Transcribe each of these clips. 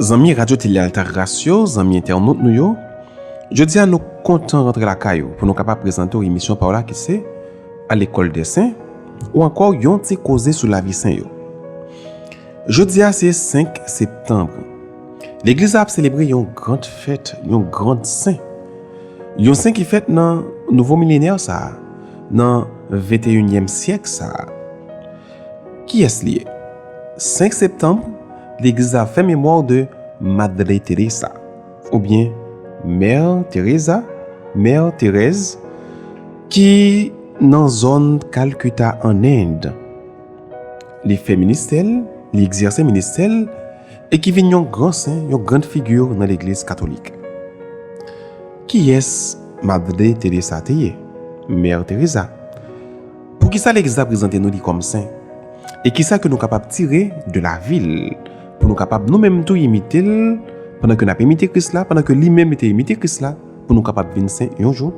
Zanmi Radyo Tele Altagras yo, zanmi entènot nou yo, jodi a nou kontan rantre lakay ou pou nou kapab prezante w emisyon pa w la ki se, A lekòl dè sen, ou ankò yon ti koze sou lavi sen yo. Jodi a se 5 septanb. Legliz la ap selebre yon grand fèt, yon grand sen. Yon sen ki fèt nan nouvo milenè sa a, nan venteyinyèm syèk sa a. Kiyès li ye? 5 septanm, legliz la fè memwa de Madre Teresa, oubyen Mè Teresa, Mè Terèz, ki nan zòn Kalkuta an End. Li fè ministè l, li egzèse ministè l, e ki vin yon gran sen, yon grand figure nan legliz katolik. Kiyès Madre Teresa te ye? Mè Teresa. Poukisa Legliz la prezante nou li kòm sen? E kisa ke nou kapab tire de lavi l pou nou kapab nou menm tou imite l pandan ke n ap imite Kris la, pandan ke li menm li te imite Kris la pou nou kapab vin sen yon jou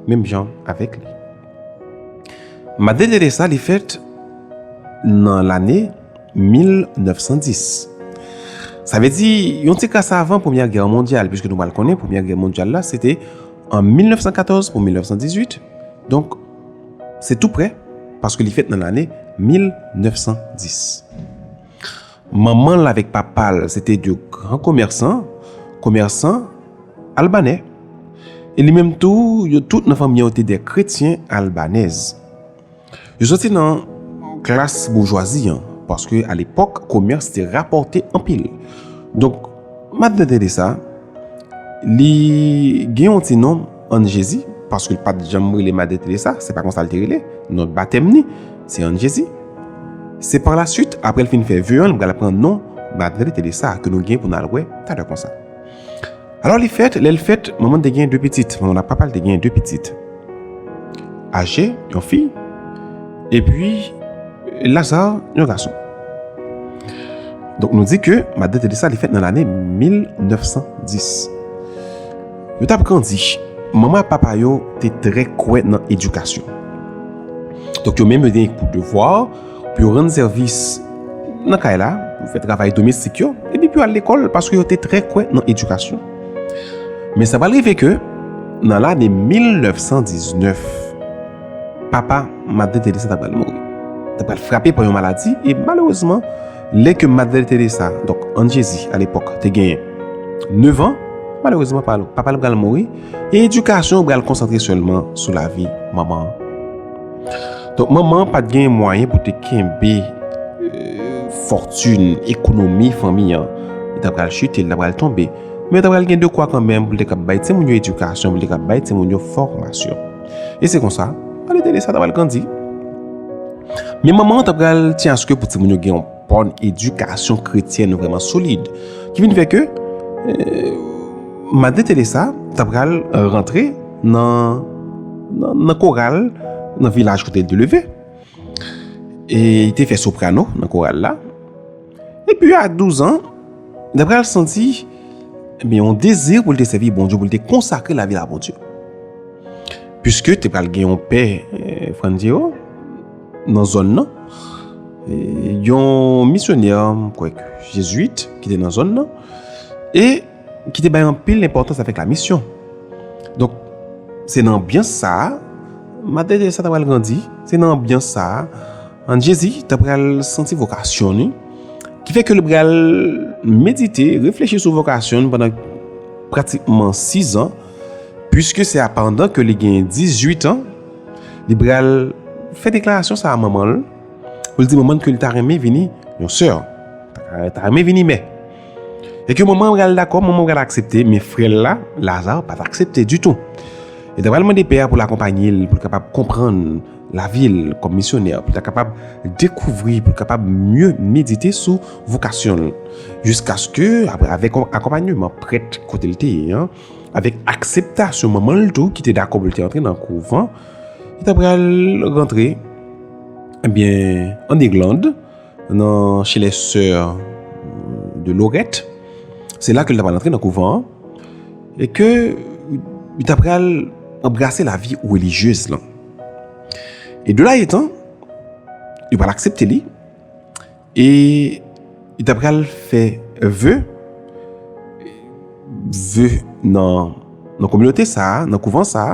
menm jan avèk li? Madeleresa sa li fèt nan lane 1910. Sa vle di yon ti kras avan Premyè Gè Mondyal, piske nou pral konnen Premyè Gè Mondyal la se te an 1914 pou 1918, donk, Se tou prè, paske li fèt nan lane 1910. Manman l avèk papa l se te de gran komèsan, komèsan albanè. E li menm tou, yo tout nan fanmi an yo te de kretyen albanèz. Yo soti nan klas boujwazi an, paske a lepòk komès te rapòte anpil. Donk, m ap tande de sa, li gen yon ti non. Ann Jezi, paske l pa t janm rele Madè Teresa, se pa konsa l te rele, non batèm ni, se Ann Jezi. Se pa la suit, apre l fin fè ve an, li pral pran non Madre Teresa, ke nou gen pou n al wè talè konsa. Alò li fèt, lè l fèt, manman l te gen de pitit, manman l ak papa l te gen de pitit. Aje, yon fi, epi Laza, yon gason. Donk nou di ke Madè Teresa li fèt nan lane 1910. Yo t ap grandi. Manman ak papa yo te trè kwè nan edikasyon. Donk, yo menm yo te gen pou devwa pou yo rann sèvis nan kay la, pou yo fè travay domestik yo, epi pou yo al lekòl, paske yo te trè kwè nan edikasyon. Men sa pral rive ke nan lane 1919, papa Madre Teresa ta pral mouri. Li ta pral frape pa yon maladi, e malerezman, Lè ke Madre Teresa, donk Ann Jezi a lepòk, te gen 9 an, malerezman papa l pral mouri, e edikasyon an pral konsantre sèlman sou lavi manman an. Donk manman an pa t gen mwayen pou te kenbe fòtin, ekonomi fanmi an. Li ta pral chite, li ta pral tonbe. Men ta pral gen de kwa kanmenm pou l te kab bay timoun yo edikasyon, pou l te kab bay timoun yo fòmasyon. E se konsa, Madre Teresa ta pral grandi. Men manman an ta pral tyen aske pou timoun yo gen yon bon edikasyon kretyen vreman solid. Ki vin fè ke Madre Teresa ta pral rantre nan koral nan vilaj kote li te leve. E li te fè soprano nan koral la. Epi a 12 an, li pral santi ebyen yon dezi pou l te sèvi Bondye, pou l te konsakre lavi l a Bondye. Piske te pral gen yon pè Frantziyo nan zòn nan, yon misyonè, m kwè, jezwit ki te nan zòn nan, e ki te bay anpil enpòtans avèk la misyon. Donk, se nan anbyans sa a, Matè Teresa ta pral grandi, se nan anbyans sa a, an Jezi ta pral santi vokasyon ni, ki fè ke li pral medite, reflechi sou vokasyon ni pandan pratikman 6 an, pwiske se a pandan ke li gen 18 an, li pral fè deklarasyon sa a manman l, pou l di manman l ke li ta renmen vini yon sè, ta renmen vini mè. E ke manman pral dakò, manman pral aksepte, men frè l la, Laza, pa t aksepte ditou. Li ta pral mande pè a pou l akonpanye l, pou l kapab konprann lavi l kòm misyonè, pou l ta kapab dekouvri, pou l kapab mye medite sou vokasyon l. Jiskaske, apre avèk yon akonpanyeman prèt kote l te ye an, avèk akseptasyon manman l tou ki te dakò pou l te antre nan kouvan, li ta pral rantre, ebyen, ann Irlande, Nan chez les sœurs de Lorette, se la ke li ta pral antre nan kouvan an, e ke li ta pral anbrase la vi relijyez lan. E de la etan, yo pral aksepte li, e li ta pral fè ve, ve nan kominote sa, nan kouvan sa,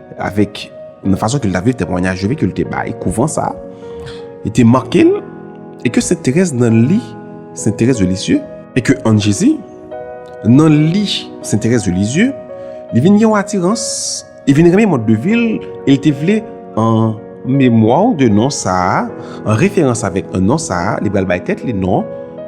Avèk nan fason ke l ta viv temwanyaj yo ke l te bay kouvan sa a, li te make l e ke Sent Terèz nan li, Sent Terèz de Lisieu, e ke an Jezi, nan li, Sent Terèz de Lisieu, li vin gen yon atirans, li vin renmen mòd de vi l e li te vle an. memwa w de non sa a, an referans avèk non sa a, li pral bay tèt li non,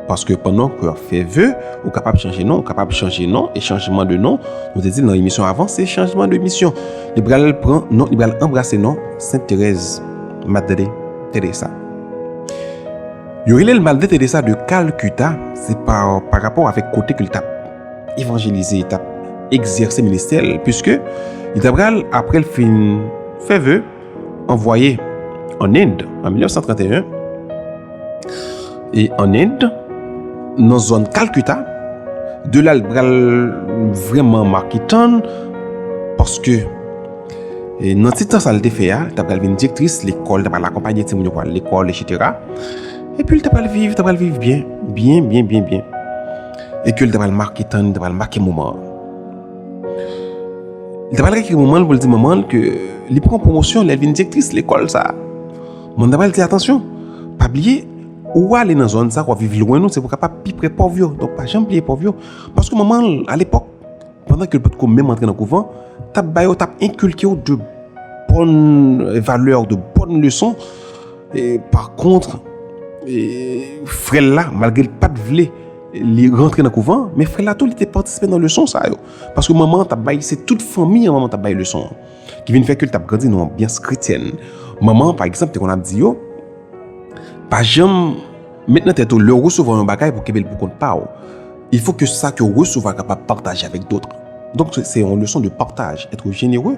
paske pandan ke w ap fè ve, ou kapab chanje non, ou kapab chanje non, e chanjman de non, nou te di l nan emisyon avan, se chanjman de misyon. Li pral pran non, li pral anbrase non Sent Terèz, Madre Teresa. Yo rele l Madre Teresa de Kalkuta, se pa pa rapò avèk kote ke li t ap evanjelize, li t ap egzèse ministè l, piske li ta pral, apre l fin fè ve, anvwaye ann End an 1931 e ann End nan zòn Kalkuta, de la l pral vrèman make tan l paske nan ti tan sa l te fè a, ta pral vin direktris lekòl, ta pral akonpanye timoun yo pou al lekòl echètera, epi l ta pral viv, ta pral viv byen, byen, byen, byen, byen e ke l ta pral make tan l, ta pral make moman an. Li ta pral rekri manman l pou l di manman l ke li pran pwomosyon lè l vin direktris lekòl sa a. Manman l ta pral di, Atansyon, pa bliye, ou ale nan zòn sa a, ou ap viv lwen nou, se pou w kapab pi pre pòv yo. Donk, pa janm bliye pòv yo. Paske manman l, alepòk, pandan ke l pa t ko menm antre nan kouvan, t ap ba yo, t ap enkilke yo de bòn valè, de bòn leson. Pakontre, frè l la, malgre l pa t vle, Li rantre nan kouvan, men frè la tou li te patisipe nan leson sa yo. Paske manman an t ap bay, se tout fanmi an manman an t ap bay leson an. Ki vin fè ke l t ap grandi nan yon anbyans kretyèn. Manman an, pa egzanp, te konn ap di yo, pa janm met nan tèt ou lè w resevwa yon bagay pou w kenbe l pou kont pa w. Il fo ke sa ke w resevwa kapab pataje avèk dotr. Donk se yon leson de pataj, ètre jenereu.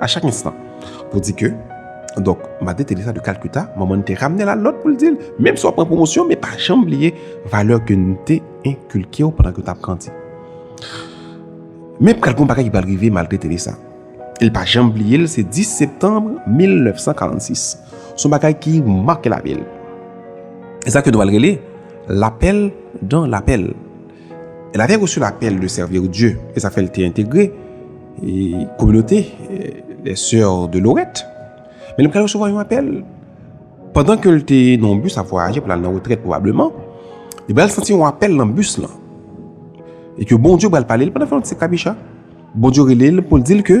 A chak enstan. Pou di ke, donk, Madè Teresa de Kalkuta, manman n te ramne l al lòd pou l di l, menm si w ap pran pwomosyon, men pa janm bliye valè ke n te enkilke w pandan ke w t ap grandi. Men pral gen yon bagay ki pral rive malgre Teresa. E l pa janm bliye l, se 10 septanm 1946. Se yon bagay ki make lavi l. E sa ke nou pral rele, Lapèl dan lapèl. Elle avait reçu l'appel de servir Dieu, e sa fè l te entegre kominote les Soeurs de Lorette. Men li pral resevwa yon apèl, pandan ke l te nan yon bus ap vwayaje pou l al nan retrèt pwobableman, li pral santi yon apèl nan bus lan, e ke Bondye pral pale l pandan l fè yon ti krabicha, Bondye rele l pou l di l ke,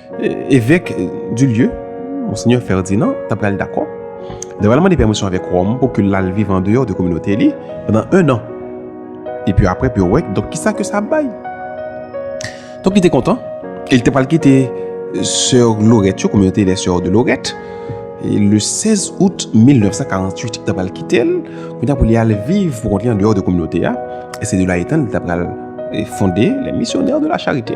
Evèk Dulieu, Monseigneur Ferdinand, ta pral dakò. Li pral mande pèmisyon avèk Ròm pou ke l al viv an deyò de kominote li pandan 1 an. Epi apre pou yo wè donk kisa ke sa ap bay. Donk li te kontan e li te pral kite Soeur Lorette yo, Communauté des Soeurs de Lorette, le 16 out 1948 li ta pral kite l kounya pou li al viv pou kont li an deyò de kominote a e se de la etan li ta pral fonde Les Missionnaires de la Charité.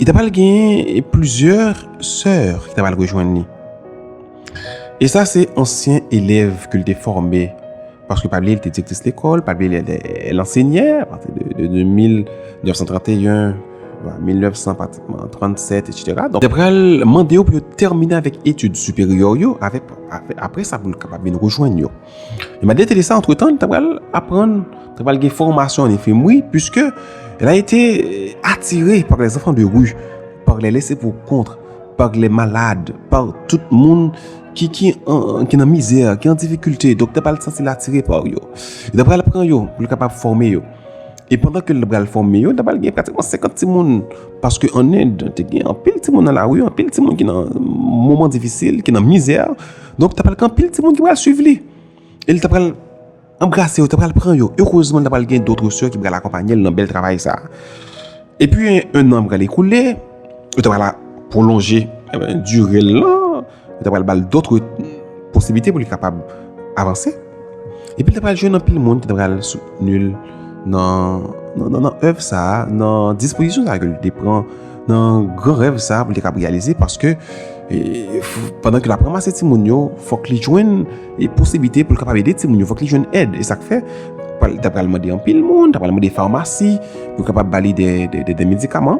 Li ta pral genyen plizyè sè ki ta pral rejwenn li. E sa se ansyen elèv ke li te fòme. Paske pa bliye li te direktris lekòl, pa bliye li te lansenyè, apati de 1931, 1900 patikman, 1937, etc. Donk, li ta pral mande yo pou yo tèmine avèk etid siperyè yo, apre sa pou li kapab vin rejwenn yo. E malgre te desa antretan, li ta pral aprann, ta pral gen fòmasyon an efim wi, pwiske la ete atire par les enfants de rue, par les laissés pour compte, par les malades, par tout moun ki nan mizè, ki an difikilte, donk ta pral santi l atire par yo. Li ta pral pran yo pou l kapab fòme yo. E pandan ke l ta pral fòme yo, ta pral gen pratikman 50 timoun, paske an End, te gen anpil timoun nan lari, anpil timoun ki nan moman difisil, ki nan mizè, Donk ta pral gen anpil timoun ki pral swiv li. E li ta pral anbrase yo, ta pral pran yo. Erezman ta pral gen dotre sè ki pral akonpanye l nan bèl travay sa. E pi 1 an pral ekoule, yo ta pral pwolonje dire l lan, yo ta pral ba l dotre posibite pou li kapab avanse. Epi l ta pral jwenn anpil moun ki ta pral soutni l nan èv sa a, nan dispozisyon sa a ke l te pran, nan gran rèv sa a pou l te kab reyalize paske pandan ke l ap ranmase timoun yo, fòk li jwenn posiblite pou l kapab ede timoun yo, fòk li jwenn èd. E sa k fè, li ta pral mande anpil moun, ta pral mande famasi pou l kapab ba li de medikaman.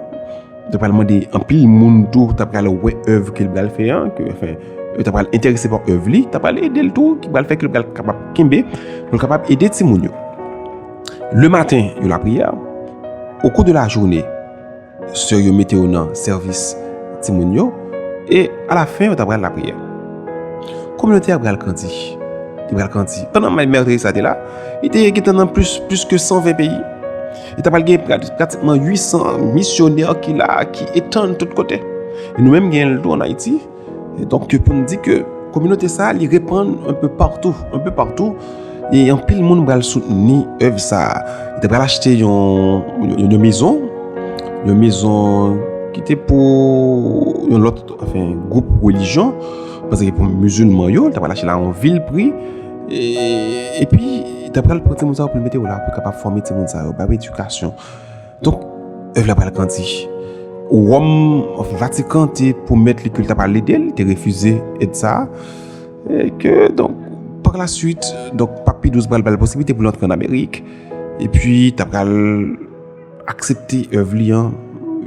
Yo pral mande anpil moun tou ta pral wè èv ke l pral fè an, ke anfen, yo ta pral enterese pa èv li, ta pral ede l tou, ki pral fè ke l pral kapab kenbe, pou l kapab ede timoun yo. Le maten, yo lapriyè, o kou de lajoune, sè yo mete yo nan sèvis timoun yo, e alafen yo ta pral lapriyè. Kominote a pral grandi, li pral grandi. Pandan Mèdre Teresa te la, li te gentan nan plis ke 120 peyi. E ta pral gen pratikman 800 misyonè ki la, ki etann tout kote. E nou menm gen ldo an Ayiti. E donk ke pou m di ke kominote sa li repann an pe partou. An pe partou. E an pil moun pral soutni ev sa. E ta pral achte yon mezon. Yon mezon ki te pou yon lot, anfen, goup relijyon. Pase ke pou mizilman yo, ta pral achte la an vil pri. E pi, ta pral pran timoun sa yo pou l mete yo la pou kapab fòme timoun sa yo, ba yo edikasyon. Donk, èv la pral grandi. Wòm, Vatikan te pwomèt li ke l ta pral ede l, te refize èd sa a. E ke, donk, par la swit, donk, Pap Pi 12 pral ba l posiblite pou l antre an Amerik. E pi, ta pral... aksepte èv li an,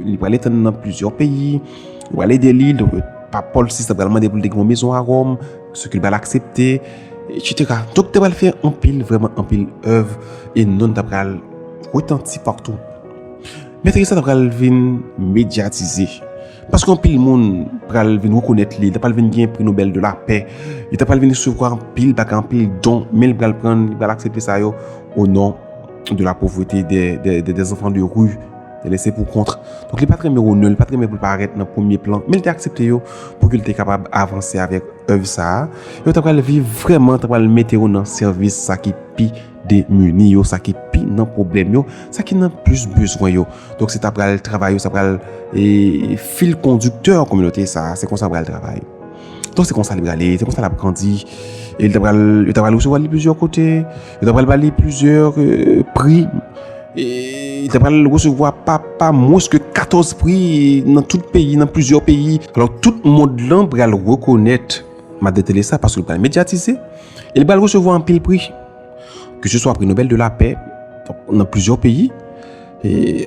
li pral etann nan plizyè peyi, yo pral ede li, donk pap Pòl 6 la pral mande pou l te gen yon mezon a Ròm, sou ki l pral aksepte, etsetera. Donk te pral fè anpil, vrèman anpil èv, e non l ta pral retanti patou. Mè Teresa ta pral vin medyatize, paske anpil moun pral vin rekonèt li, li ta pral vin gen pri Nobèl de lapè, li ta pral vin resevwa anpil bagay, anpil don, men li pral pran, li pral aksepte sa yo o non. de la pauvreté, des, des, des, des enfants de rue, des laissés pour compte. Donc, li pa très renmen Ronel, li pa très renmen pou paraître nan premier plan, men li te aksepte yo pou ki li te kapab avanse avèk œuvre sa a. Yo ta pral viv vrèman, ta pral mete yo nan sèvis sa ki pi demuni yo, sa ki pi nan problèm yo, sa ki nan plus bezwen yo. Donc, se ta pral travay yo, sa pral e fil conducteur kominote sa a, se konsa pral travay. Donc, se konsa li pral e, se konsa l ap grandi, e li ta pral, yo ta pral resevwa li plizyè kote. Yo ta pral ba li plizyè pri. E ta pral resevwa pa mwens ke 14 pri nan tout peyi, nan plizyè peyi. Alò tout mond lan pral rekonèt Madan Teresa paske l pral medyatize. E li pral resevwa anpil pri. Ke se swa pri Nobèl de la Pè nan plizyè peyi.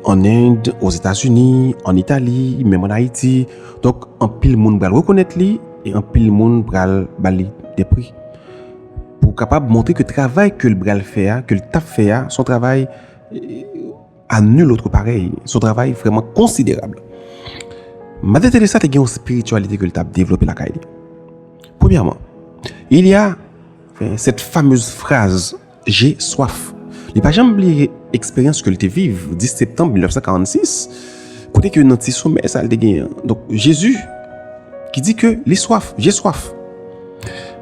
An End, o Zetazini, an Itali, menm an Ayiti. Donk anpil moun pral rekonèt li e anpil moun pral ba li de pri. pou w kapab montre ke travay ke l bral fè a, ke l tap fè a, son travay a nul otre parèy, son travay vreman konsiderab. Mada Teresa te gen yon spirityalite ke l tap devlope lakay li. Premyèman, il ya set famez fraz, je swaf. Li pa janm bliye eksperyans ke l te viv 10 septanm 1946, kote ke nan ti somè sa l te gen an. Donk, Jezi ki di ke li swaf, je swaf.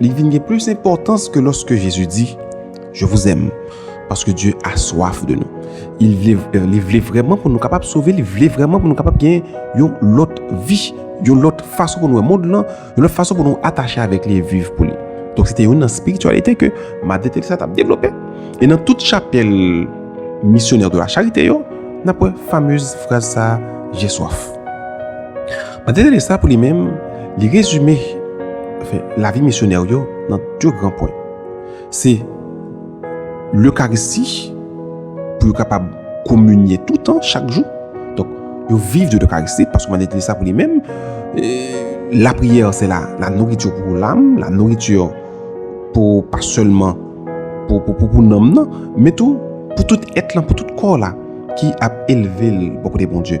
Li vin gen plis enpòtans ke lòske Jezi di, Je vous aime, paske Dye a swaf de nou. Li vle vrèman pou nou kapab sove, li vle vrèman pou nou kapab gen yon lòt vi, yon lòt fason pou nou wè mond lan, yon lòt fason pou nou atache avèk li e viv pou li. Donk se te youn nan spirityalite ke Madre Teresa t ap devlope. E nan tout chapèl Missionnaires de la Charité yo, n ap wè famez fraz sa a, J'ai soif. André Delessa pou li menm, li rezime lavi misyonè yo nan 2 gran pwen. Se Lekaristi pou yo kapab kominye toutan, chak jou. Donk, yo viv de Lekaristi, paske André Delessa pou li menm, lapriyè se la nouritur pou lam, la nouritur pou pa sèlman pou nanm nan, men tou pou tout èt lan, pou tout kò la ki ap elve l bò kote Bondye.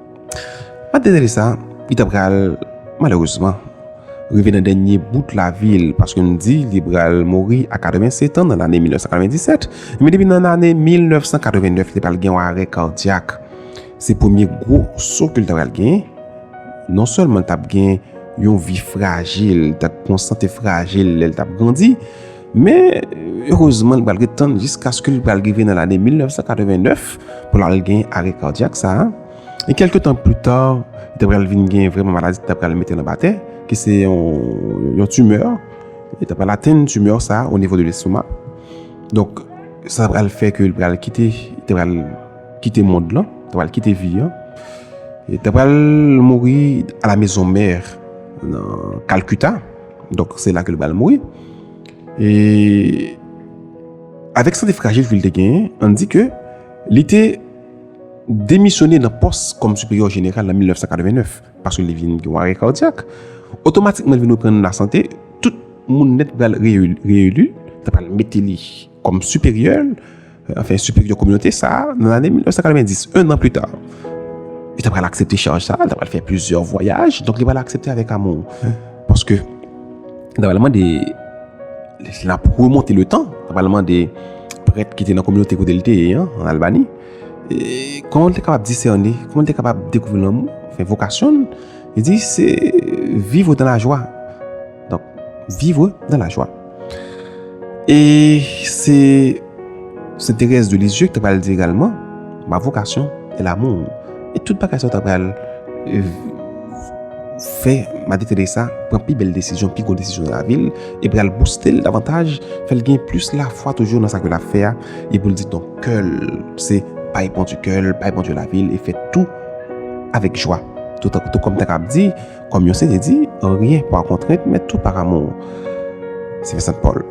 Map detale sa, li ta pral, malerezman, rive nan dènye bout lavi l, paske nou di li pral mouri a 87 an nan lane 1997, men depi nan lane 1989 li pral gen yon arè kadyak. Se premye gwo so ke l ta pral gen, non sèlman l tap gen yon vi frajil, li tap yon sante frajil lè l tap grandi, Men, erezman, li pral ret tann jiskaske li pral rive nan lane 1989 pou l al gen arè kadyak sa a. E kèlke tan pli ta, li ta pral vin gen vreman maladi ki ta pral mete l anba tè, ki se yon timè. Li ta pral atenn timè sa a o nivo de lestomak. Donk, sa pral fè ke li pral kite, li ta pral kite mond lan, li ta pral kite vi an. Li ta pral mouri a la mezon mè nan Kalkuta. Donk se la ke li pral mouri. E avèk sante frajil ke li te genyen, an di ke li te demisyone nan pòs kòm siperyò jeneral nan 1989, paske li vin gen yon arè kadyak. Otomatikman li vin reprann lasante, tout moun nèt pral reyeli, yo pral mete li. Kòm siperyè, anfen siperyè kominote sa, nan lane 1990, 1 an pita, li ta pral aksepte chaj sa, li ta pral fè plizyè vwayaj, donk li pral aksepte avèk amou. Paske, li ta pral mande, li ap remonte le tan, li ta pral mande prèt ki te nan kominote kote li te ye an, an Albani, kòman li te kapab disène, kòman li te kapab dekouvri lanmou, fè vokasyon, li di se viv ou dan la jwa. Donk, vivre dans la joie. E se Sainte Thérèse de Lisieux ki te pral di egalman, ma vocation est l'amour. E tout bagay sa yo ta pral fè Madi Teresa pran pi bèl desizyon, pi gwo desizyon nan lavi l, e pral bouste l davantaj, fè l gen plis lafwa toujou nan sa ke l ap fè a, e pou l di donk kè l se bay Bondye kè l, bay Bondye lavi l, e fè tou avèk jwa. Tout kòm ta kab di. Kòm Yose te di, anryen pa kontrent, men tout par amou. Se vè Sant Pòl.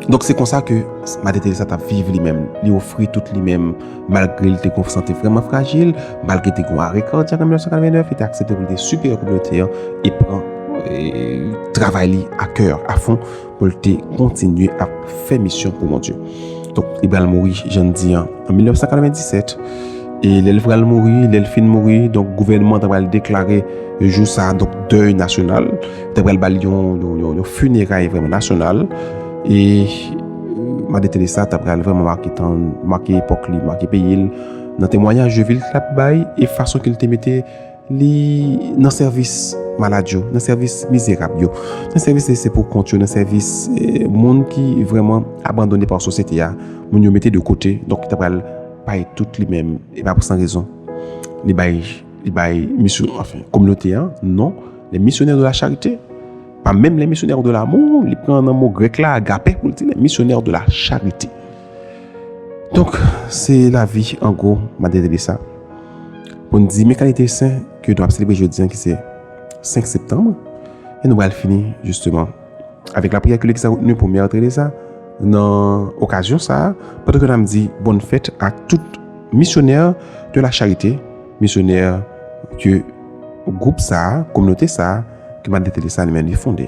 Donk se konsa ke Madè Teresa t ap viv li menm. Li ofri tout li menm, malgre li te gen yon sante vrèman frajil, malgre li te gen yon are kardyak an 1989, li te aksepte pou li te siperyè kominote an e pran travay li a kè, a fon. pou l te kontinye ap fè misyon pou Bondye. Donk, li pral mouri, jan n di an, an 1997, e lè l pral mouri, lè l fin mouri, donk, gouvènman an ta pral deklare jou sa a, donk, dèy nasyonal, ta pral ba l yon fineray vrèman nasyonal, e Mada Teresa ta pral vrèman make tan l, make epòk li, make peyi l, nan temwanyaj de vil l t ap bay, e fason ke l te mete. Li nan sèvis malad yo, nan sèvis mizerab yo, nan sèvis lese pou kont yo, nan sèvis moun ki vreman abandone pa sosyete a, moun yo mete de kote, donk ki ta pral bay tout li menm, e pa pou san rezon. Li bay, li bay misyon, anfen, kominote an, non, le misyonè de la charite, pa menm le misyonè de la mou, li pran nan mou grek la, agape, pou li di le misyonè de la charite. Donk, se lavi an gwo Madre Teresa pou n di men kalite sen ke nou ap selebre jodi an ki se 5 septanm e nou pral fini jisteman avèk lapriyè ke legliz la retenu pou Mère Teresa nan okazyon sa a pandan ke n ap di bòn fèt a tout misyonè de la charite, misyonè ke gwoup sa a, kominote sa a ke Madre Teresa li menm li fonde.